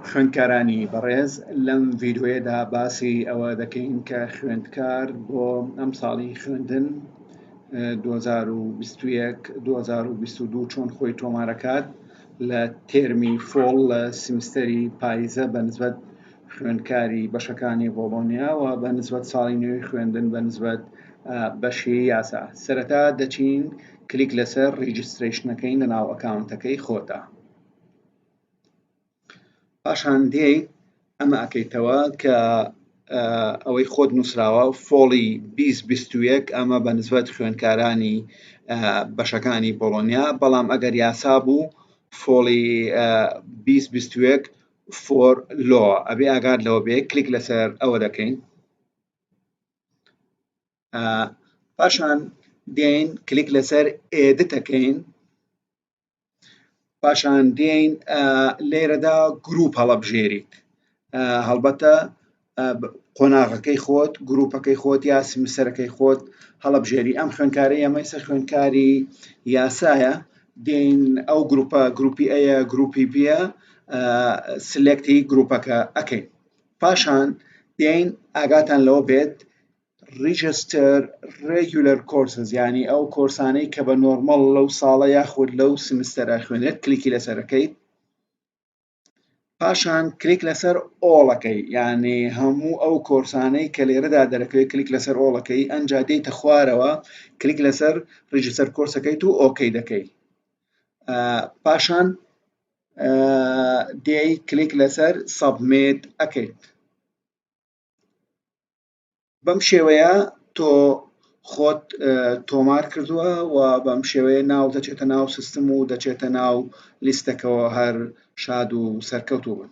خوێندکارانی بەڕێز لەم ڤیدیۆیەدا باسی ئەوە دەکەین کە خوێندکار بۆ ئەم ساڵی خوێندن 2021 2022 چۆن خۆی تۆمارەکات لە تێرمی فۆڵ لە سیمستەری پایزە بە نسبەت خوێندکاری بەشەکانی بۆڵۆنیا و بە نسبەت ساڵی نوێی خوێندن بە نسبەت بەشی یاسا سەرەتا دەچین کلیک لەسەر ڕیجستریشنەکەین لە ناو ئەکاونتەکەی خۆتە پاشان دێی ئەمە ئەکەیتەوە کە ئەوەی خۆت نووسراوە فۆڵی 2021 ئەمە بە نسبەت خوێندکارانی بەشەکانی بۆڵۆنیا بەڵام ئەگەر یاسا بوو فۆڵی 2021 فۆر لۆ ئەبێ ئاگار لەوە بێ کلیک لەسەر ئەوە دەکەین پاشان دێن کلیک لەسەر ئێدتەکەین پاشان دێین لێرەدا گروپ هەڵەبژێریت هەڵبەتە قۆناغەکەی خۆت گروپەکەی خۆت یا سمسەرەکەی خۆت هەڵەبژێری ئەم خوێنکاری ئەمەی سەر خوێنکاری یاسایە دێین ئەو گروپە گروپی ئەیە گروپی بیە سلێکتی گروپەکە ئەەکەین پاشان دێین ئاگاتان لەوە بێت ڕیجستەر ڕێگولەر کۆرسز یعنی ئەو کۆرسانەی کە بە نۆرمەڵ لەو ساڵە یاخود لەو سمستەرە خوێنێت کلیکی لەسەرەکەیت پاشان کلیک لەسەر ئۆڵەکەی یعنی هەموو ئەو کۆرسانەی کە لێرەدا دەرەکەوێت کلیک لەسەر ئۆڵەکەی ئەنجا دێتە خوارەوە کلیک لەسەر ڕیجستەر کۆرسەکەیت و ئۆکەی دەکەی پاشان دێی کلیک لەسەر سەبمێت ئەکەیت بەم شێوەیە تۆ خۆت تۆمار کردووە و بەم شێوەیە ناو دەچێتە ناو سیستم و دەچێتە ناو لیستەکەەوە هەر شاد و سەرکەوتوو بن